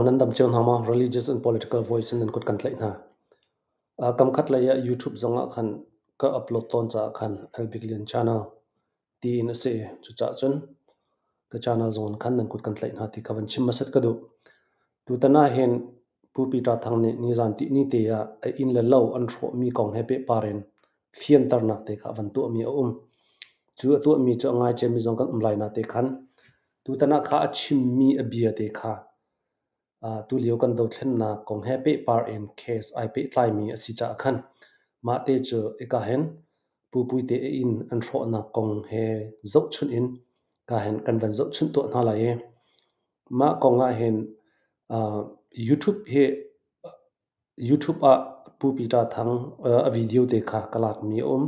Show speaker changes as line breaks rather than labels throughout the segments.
Nan dam cio hna maw? Religious and political voice in nan kut kan tlaih hna. Kam khat lei ah YouTube zong ah khan ka upload tawn caah khan El Big Lian channel tiin a si. Cucaah cun ka channel zong khan nan kut kan tlaih hna ti ka van chim hmasat ka duh. Tutan ah hin Pu Peter Thang nih nizan ni te ah a inn le lo an hrawhmi kong he pehpar in fianternak te kha a van tuahmi a um. Cu a tuahmi cu a ngaiciami zong kan um lai na te khan tutan ah kha a chimmi a bia te kha uh, tulio kan dothlennak kong he pehpar in case ai pehtlaimi a si caah khan mah te cu eka hen pupui te in an hrawhnak kong he zohchunh in ka hen kan van zohchunh tuah hna lai i mah kong ah hin uh, YouTube hi YouTube ah Pu Peter Thang a video te kha ka lakmi a um.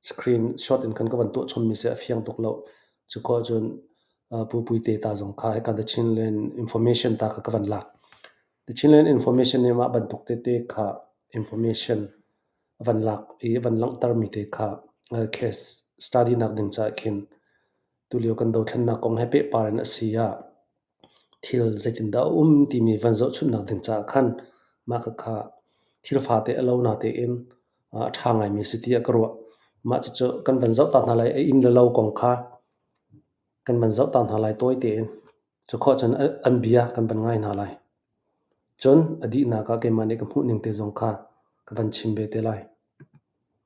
Screen shot in kan ka van tuah chommi seh a fiang tuk lo. Cuko cun Pu Puite ta zong kha hika The Chinland Information ta kha ka van lak. The Chinland Information nih mah bantuk tete kha information a van lak i a van langhtermi te kha case study nak ding caah khin tulio kan dothlennak kong he pehpar in a si ah Thil zeitindah a um timi van zohchunhnak ding caah khan mah kha kha thil fate a lona tein a ṭha ngaimi a si tiah ka ruah. Mah cucu kan van zohtak hna lai a inn le lo kong kha kan van zohtak hna lai tawi tein. Cukhawh cun an bia kan van ngai hna lai. Cun a dihnak ah keimah nih ka hmuh ning te zong kha ka van chim ve te lai.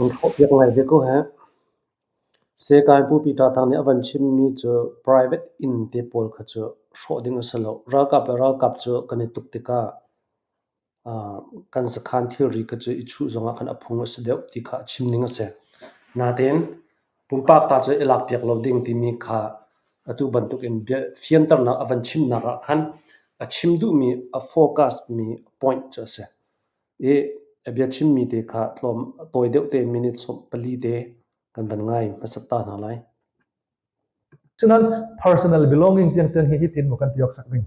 An hrawhpiak ngai ve ko heh. Sehkai Pupi Ṭathang nih a van chimmi cu private inn te pawl kha cu hrawh ding a si lo. Ralkap le ralkap cu kan i tuk tikah kan sakhan thilri kha cu i chuh zongah khan a phung a si deuh ti kha a chim ning a si. Natein Pumpak ta cu i lakpiak lo ding timi kha atu bantukin fianternak a van chimnak ah khan a chim duhmi a focusmi point cu a si. I a biachimmi te kha tlawm a tawi deuh te minutes pali te kan van ngai hmasat ta hna lai.
Sinain personal belonging tiang tiang hi hitin mu kan ti awk sak ding.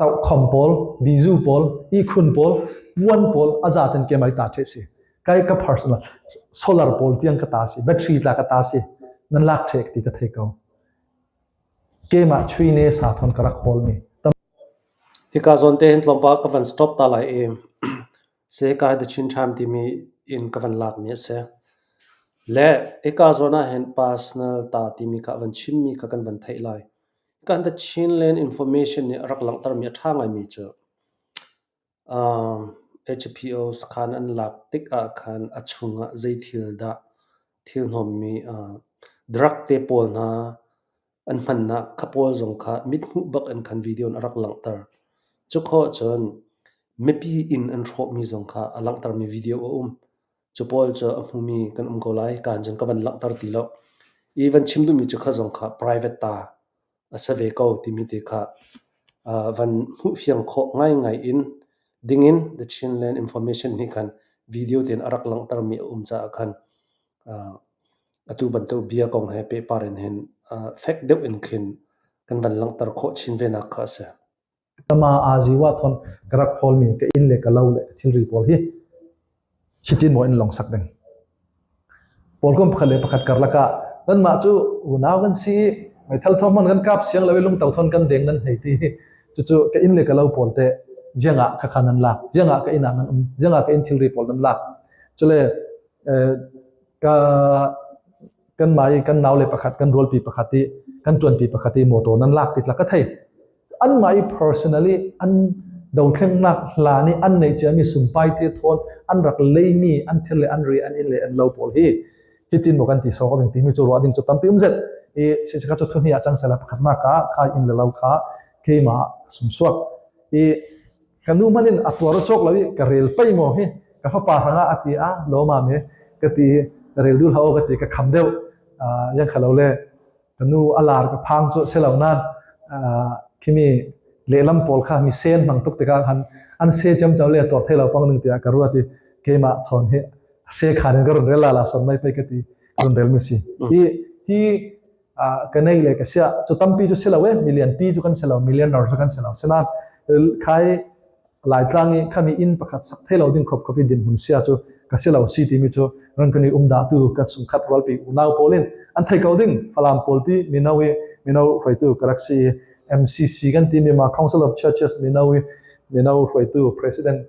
Tokhom pawl, bizu pawl, ihkhun pawl, puan pawl a za ten ke mai ta the si. Kai ka personal solar pawl tiang ka ta si, battery tla ka ta si. Nan lak thek ti ka thei ko. Keimah chui ne sa thon ka rak hol mi.
Hika zon te hin tlawmpa ka van stop ta lai em. Se kai the chin time ti mi in ka van lak mi se. Le eka zona hen personal ta ti mi ka van chim mi ka kan van thei lai. Kan The Chinland Information nih a rak langhtermi a ṭha ngaimi cu HPO sakhan an lak tik ah khan a chung ah zei thil dah thil hnawmmi drug te pawl hna an hmannak kha pawl zong kha mithmuh bak in khan video in a rak langhter. Cu khawh ahcun mipi inn an hrawhmi zong kha a langhtermi video a um. Cu pawl cu a hmumi kan um ko lai kaan cun ka van langhter ti lo. I van chim duhmi cu kha zong kha private ta a si ve ko timi te kha uh, van hmuhfiang khawh ngaingai in dingin The Chinland Information nih khan video tein a rak langhtermi a um caah khan uh, atu bantuk bia kong he pehpar in hin uh, fek deuh in khin kan van langhter khawh chin venak kha a si. ka ma aa
ziwa thon ka rak hawlmi ka inn le ka lo le ka thilri pawl hi hitin maw in longsak ding pawl kum pakhat le pakhat karlak ah kanmah cu unau kan si meithal thong man kan kap siang lawi lungto thon kan deng nan hei ti cucu ka inn le ka lo pawl te jengah ka khan nan lak jengah ka inang nan um jengah ka in thilri pawl nan lak cule ka kanmah i kan naule pakhat kan rualpi pakhat i kan tuanpi pakhat i motor nan lak ti tlak ka thei anmah i personally an dothlennak hla nih an nei ciami sumpai te thawn an rak leimi an thil le an ri an in le an lo pawl hi hitin mo kan ti so ding timi cu ruah ding cu tampi um zet i sichaka chu thuni a chang sela pakhat ma ka khai in le lo kha keima sumsuak i ka nu hmanh in a tuar a cawk lo i ka rel pei maw hi ka fapa hrangah a ti a lawmam hi ka ti rel duh hlah ka ti ka kham deuh yang khalo le ka nu a lar ka phang cu se lo nan kimi lehlam pawl kha mi sen mang tuk tikah khan an se cem chau le tor thei lo pang ning tiah ka ruat i keimah chon hi se khan in ka run rel la la son mai pei ka ti run rel mi si hi hi ka nei le ka sia cu tampi cu silo e million pi cu kan silo millionaire cu kan silo sina khai laitlang i khami inn pakhat sak thelo ding khop khopi din mun sia cu ka silo si timi cu ran kan i umda tu ka sung khat rol pi unau polin an thai ko ding falam pol pi mino i mino hruaitu galaxy MCC kan team ma Council of Churches Minowi Minowi hruaitu President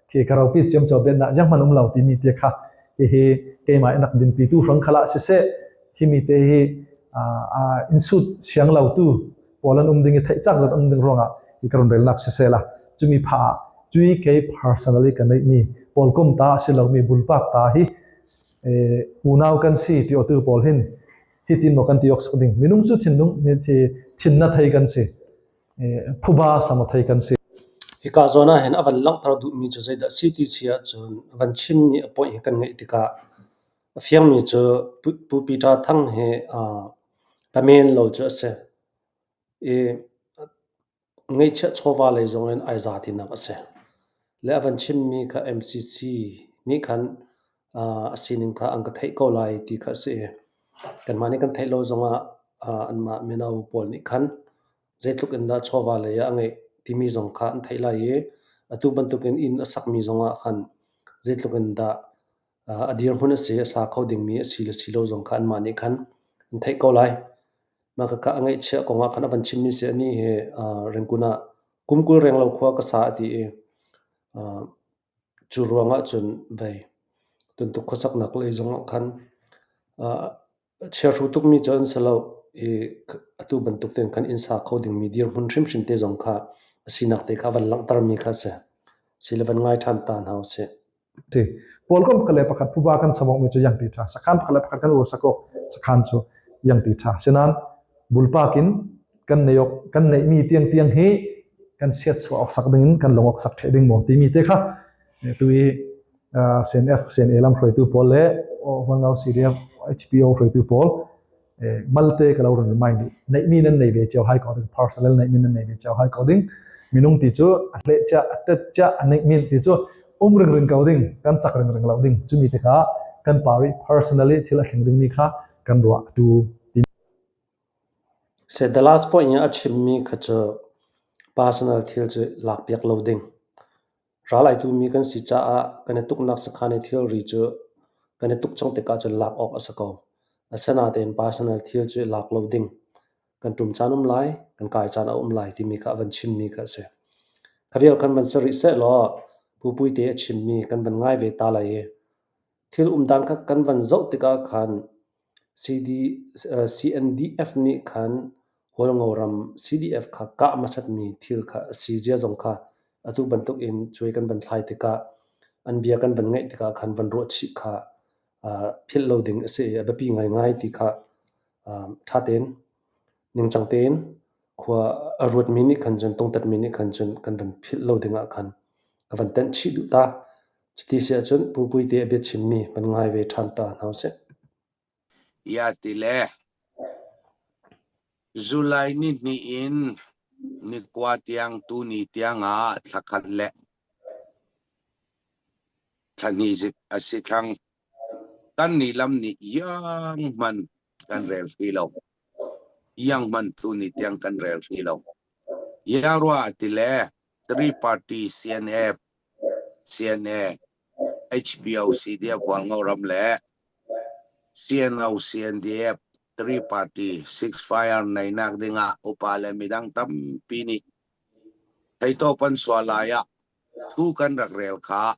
khi ka ropi ciam cho ben na jang man um lo ti mi te kha hi hi keimah nak din pi tu hrang khala si se hi mi te hi a insut siang lo tu polan um ding thei chak zat um ding ronga hi karon rel nak si se la chumi pha cui ke personally ka nei mi pol kum ta si lo mi bul pak ta hi unau kan si ti otu pol hin hi tin no kan ti ok sak ding minung chu thin nung ni thi thin na thei kan si Hika zawn ah
hin a van langhter duhmi cu zeidah a si ti si ahcun a van chimmi a poih hi kan ngaih tikah a fiangmi cu Pu Peter Thang hi pamen lo cu a si. I ngeihchiah chawva lei zong in ai za tinak a si. Le a van chimmi kha MCC nih khan a sining kha an ka theih ko lai ti kha a si i kanmah nih kan theih lo zongah anmah mino pawl nih khan zeitluk in dah chawva lei ah a ngeih timi zong kha an theih lai i atu bantukin inn a sakmi zongah khan zeitluk in dah a dirhmun a si a sa kho dingmi a si le si lo zong kha anmah nih khan an theih ko lai. Mah ka ngaihchiah kongah khan a van chimmi si ani hi Rengkun ah kum kul renglo khua ka sa a ti i Cu ruang ahcun vei tuntuk khuasaknak lei zongah khan chiahru tukmi cu an si lo i atu bantuk tein khan inn sa kho dingmi dirhmun hrimhrim te zong kha a sinak te kha van langhtermi kha a si. Sile van ngai ṭhan ta hna usih. Ti
Pawlkam pakhat le pakhat phuba kan savokmi cu iang ti ṭha sakhan pakhat le pakhat kan ursakawk sakhan cu iang ti ṭha. Sinain bulpak in kan neihmi tiangtiang hi kan chiatchuah awk sak dingin kan lung awk sak ṭheh ding maw timi te kha tu i CNF CNA lam hruaitu pawl le Wangau CDF HPO hruaitu pawl malte ka lo ran mai ni neihmi nan nei ve cheu hai ko ding parcel neihmi nan nei ve cheu hai ko ding minung ti chu a hle cha a tet cha a neihmin ti chu um ring ring ko ding kan chak ring ring lo ding chumi te kha kan pari personally thil a thling ding mi kha kan ruah tu
Sedalas puai in a chimmi kha cu personal thil cu lakpiak lo ding. Ral ai tu mi kan si caah kan i tuknak sakhan i thilri cu kan i tuk chung tikah cun lak awk a si ko. Asinain personal thil cu lak lo ding kan ṭum caan um lai, kan kai caan a um lai timi kha a van chimmi kha a si. Kha vial kan van si rih sehlaw Pupui te a chimmi kan van ngai ve ta lai i thil um dan kha kan van zoh tikah khan CNDF nih khan Hawlngo ram CDF kha kah hmasatmi thil kha a si zia zong kha atu bantukin cuai kan van thlai tikah an bia kan van ngaih tikah khan van ruah chih kha philh lo ding a si i a biapi ngaingai ti kha ṭha tein ningcang tein khua a ruatmi nih khan cun tungtatmi nih khan cun kan van philh lo dingah khan ka van tenh chih duh ta. Cuti si ahcun Pupuite a biachimmi van ngai ve ṭhan ta hna usih.
Iah ti le July ni hnih in nikua tiang tuni tiangah thla khat le thla hnih zik a si thlang. Kannih lam nih iang hmanh kan rel hri lo. Iang hmanh tuni tiang kan rel hri lo. Iang rua a ti le Three Party CNF, CNA, HBOC DF Guango ram le CNO CNDF Three Party ceasefire neinak dingah upa le midang tampi nih theitawp an sual lai ah thu kan rak rel kha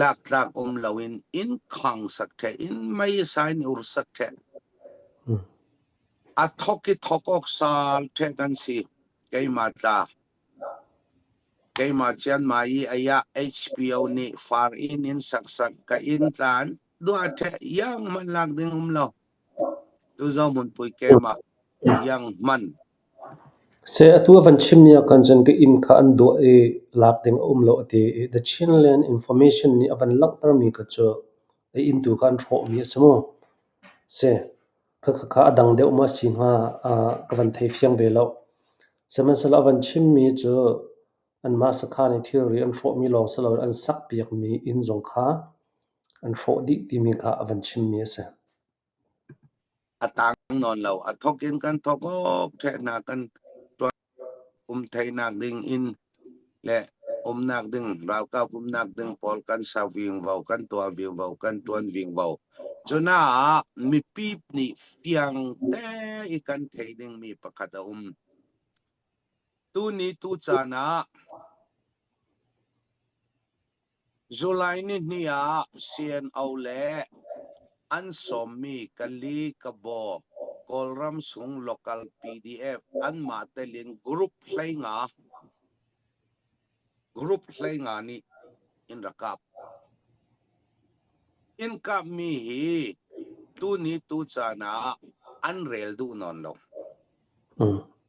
Laktlak um loin innkhang sak ṭheh, inn meisa in ur sak ṭheh. A thawk i thawk awk sal ṭheh kan si. Keimah tla. Keimah Cianmai i aiah HBO nih far inn in saksak ka inn tlan duah ṭheh iang hmanh lak ding um lo. Tu Zohmun pui keimah iang hman.
Seh atu a van chimmi ahkhan cun ka inn kha an dawh i lak ding a um lo a ti i The Chinland Information nih a van langhtermi kha cu a inn tu kha an hrawhmi a si maw? Si. Khakhakha a dang deuh maw a si hnga ka van thei fiang ve loh. Sihmanhsehlaw a van chimmi cu anmah sakhan i thilri an hrawhmi lawng si loin an sakpiakmi inn zong kha an hrawh dih timi kha a van chimmi a si. A taang
nawn lo. A thawk in kan thawk awkṭheh hna kan ṭuan. Um theihnak ding inn le umnak ding, ralkap umnak ding pawl kan ser vingvo, kan tuah vingvo, kan ṭuan vingvo. Cunaah mipi nih fiang te i kan thei dingmi pakhat a um. Tuni tu caan ah July nihnih ah CNO le an sawmmi Kali, Kabaw, Kawlram sung local PDF anmah telin group hlei nga nih in rak kap. Inn kapmi hi tuni tucaan ah an rel duh nawn lo.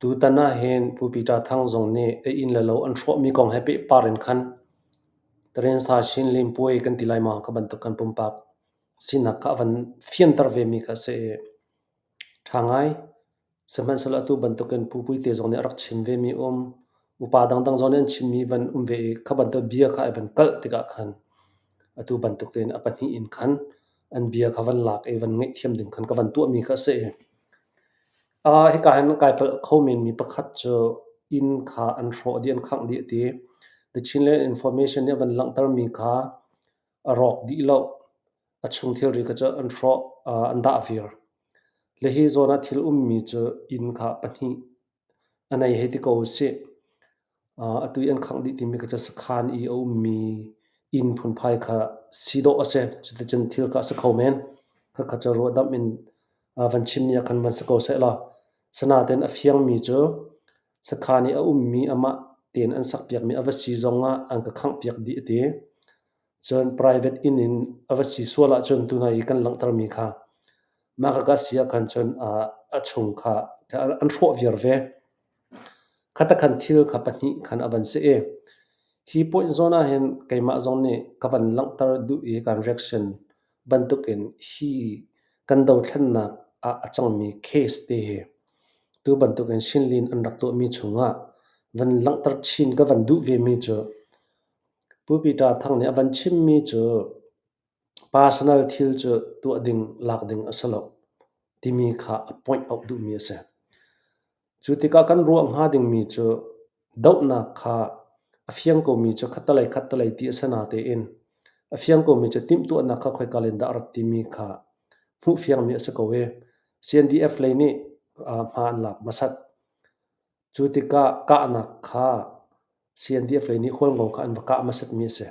Tutan ahhin Pu Peter Thang zong nih a inn le lo an hrawhmi kong he pehpar in khan Tarensa Chin lempuai kan ti lai maw ka bantuk kan pumpak sinak kha a van fianter vemi kha a si i ṭha ngai. Sihmanhsehlaw atu bantukin Pu Puite zong nih a rak chim vemi a um. Upa dangdang zong nih an chimmi van um ve i kha bantuk bia kha a van kalh tikah khan atu bantuk tein a pahnih in khan an bia kha van lak i van ngaihthiam ding khan ka van tuahmi kha a si. Uh, hika hin kai palh kho men mi pakhat cu inn kha an hrawh dih an khangh dih ti. The Chinland Information nih van langhter mi kha a rawk dih lo. A chung thilri kha cu an hrawh, uh, an dah vir. Le hi zawn ah thil ummi cu inn kha pahnih A nei hei ti ko usih. Atu i an khangh dih timi kha cu sakhan i a ummi inn phunphai kha si dawh a si. Cuticun thil kha a si kho men. Khakha cu ruahdamh in van chimmi ah khan van si ko sehlaw, sanaten a fiangmi cu sakhan i a ummi amah tein an sakpiakmi a va si zong ah an ka khanghpiak dih a ti. Cun private inn in a va si sual ahcun tuna i kan langhtermi kha mahka ka si ahkhan cun a chung kha an hrawh viar ve. Khatakhan thil kha pahnih khan a van si i hi point zawn ahhin keimah zong nih ka van langhter duh i kan reaction bantukin hi kan dothlennak ah a cangmi case te hi tu bantukin Shin Lin an rak tuahmi chungah van langhter chin ka van duh vemi cu Pu Peter Thang nih a van chimmi cu personal thil cu tuah ding lak ding a si lo timi kha a point auh duhmi a si. Cu tikah kan ruah hnga dingmi cu dohnak kha a fiang komi cu khattelei khattelei ti a si natein a fiang komi cu timhtuahnak kha khoika len dah a rat timi kha hmuh fiangmi a si ko i CNDF lei nih hma an lak hmasat. Cu tikah kahnak kha CNDF-lei nih khualngo kha an va kah hmasatmi a si.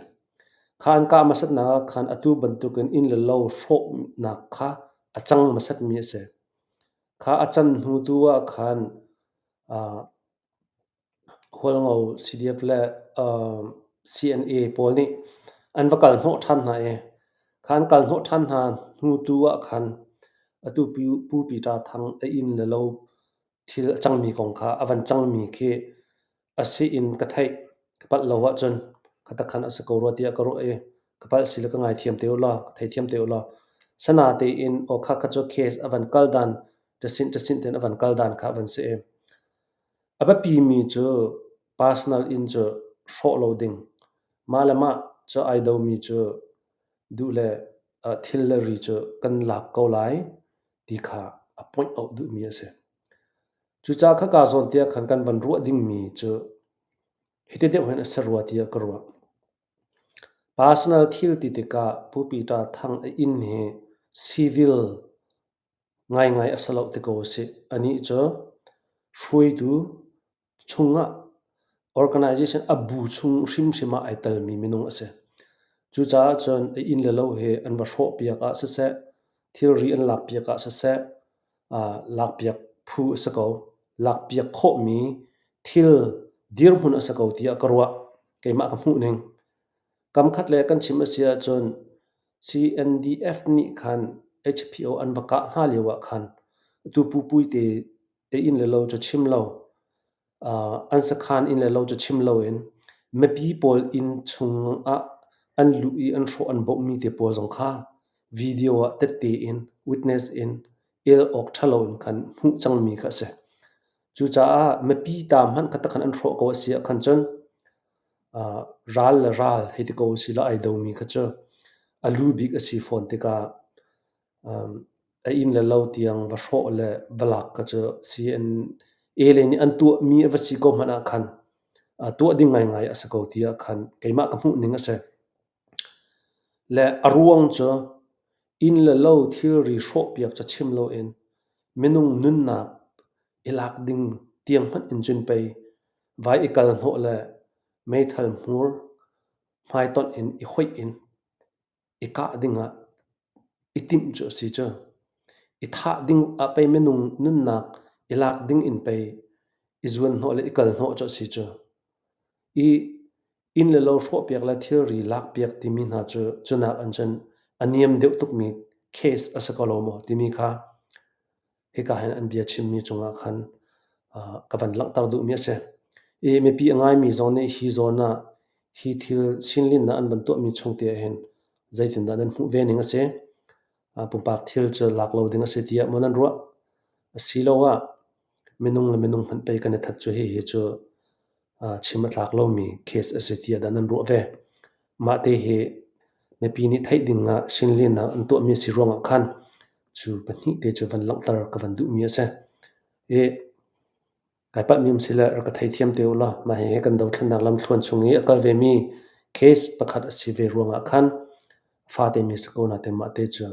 Kha an kah hmasatnak ah khan atu bantukin inn le lo hrawhnak kha a cang hmasatmi a si. Kha a can hnu tu ah khan uh, khualngo CDF le uh, CNA pawl nih an va kal hnawh ṭhan hna i kha an kal hnawh ṭhan hna hnu tu ah khan atu pu, Pu Peter Thang a inn le lo thil a cangmi kong kha a van cangmi khi a si in ka theih ka palh lo ahcun ka takhan a si ko rua tiah ka ruah i ka palh si le ka ngaithiam te u law ka theithiam te u law sana tein awkha kha cu case a van kal dan ṭasinh ṭasinh ten a van kal dan kha a van si i a biapi mi cu personal in cu hrawh lo ding mah le mah cu ai domi cu duh le thil le ri cu kan lak ko lai ti kha a point out duhmi a si. Cucaah kha ka zawntiah khan kan van ruah dingmi cu hiti deuh hen a si rua tiah ka ruah. Personal thil ti tikah Pu Peter Thang a inn hi civil ngaingai a sa lo te ko si. Ani cu hruaitu chungah organization a bu chung hrimhrim ah ai telmi minung a si. Cucaah cun a inn le lo hi an va hrawh piak ah siseh, thilri an lak piak ah siseh, uh, lak piak phu a si ko. Lak piak khawhmi thil dirhmun a si ko tiah ka ruah. Keimah ka hmuh ning. Kamkhat le kan chim a si ahcun CNDF nih khan HPO an va kah hna lio ah khan atu pupui te i inn le lo cu chim lo. Uh, an sakhan inn le lo cu chim loin mipi pawl inn chungah an luh i an hrawh an bawmhmi te pawl zong kha video ah tette in witness in el awk ṭhalo in khan hmuh cangmi kha a si. Cucaah mipi ta hmanh kha takhan an hrawh ko a si ah khan cun uh, ral le ral hei ti ko a si lo ai domi kha cu a lu bik a si fawn tikah A inn le lo tiang va hrawh le va lak kha cu si an ele nih an tuahmi a va si ko hmanh ahkhan tuah ding ngaingai a si ko ti ahkhan keimah ka hmuhning a si. Le a ruang cu inn le lo thilri hrawhpiak cu chim loin minung nunnak i lak ding tiang hmanh in cun pei vai i kal hnawh le meithal hmur hmaitonh in i hoih in i kah dingah i timh cu a si cu. I thah ding ah pei minung nunnak i lak ding in pei i zuanhnawh le i kalhnawh cu a si cu. I inn le lo hrawhpiak le thilri lakpiak timi hna cu cunak in cun a niam deuh tukmi case a si ko lo maw timi kha hika hin an bia chimmi cungah khan ka van langhter duhmi a si. I mipi a ngaimi zong nih hi zawn ah hi thil sinlinnak an van tuahmi chungte ah hin zeitindah nan hmuh ve ning a si. Pumpak thil cu lak lo ding a si tiah maw nan ruah? Asiloah minung le minung hmanh pei kan i that cu hihi cu chim a tlak lomi case a si tiah dah nan ruah ve? Mah te hi mipi nih theih ding ah Chinlinak an tuahmi a si ruang ah khan cu pahnih te cu van langhter ka van duhmi a si. I kai palhmi um si le rak ka theithiam te ulaw mah hihi kan dothlannak lamthluan chung i a kal vemi case pakhat a si ve ruang ah khan fate musical hna te mah te cu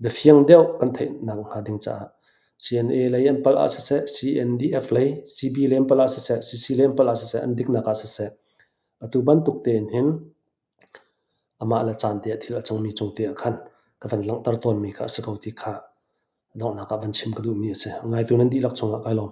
biafiang deuh kan theih nakhnga ding caah CNA lei an palh ah siseh CNDF lei CB lei an palh ah siseh CC lei an palh ah siseh an diknak ah siseh atu bantuk tein hin amah le caan te ah thil a cangmi cung te ah khan ka van langhter tawnmi kha a si ko ti kha donghnak ah van chim ka duhmi a si ngaitu nan dihlak chungah kai lawm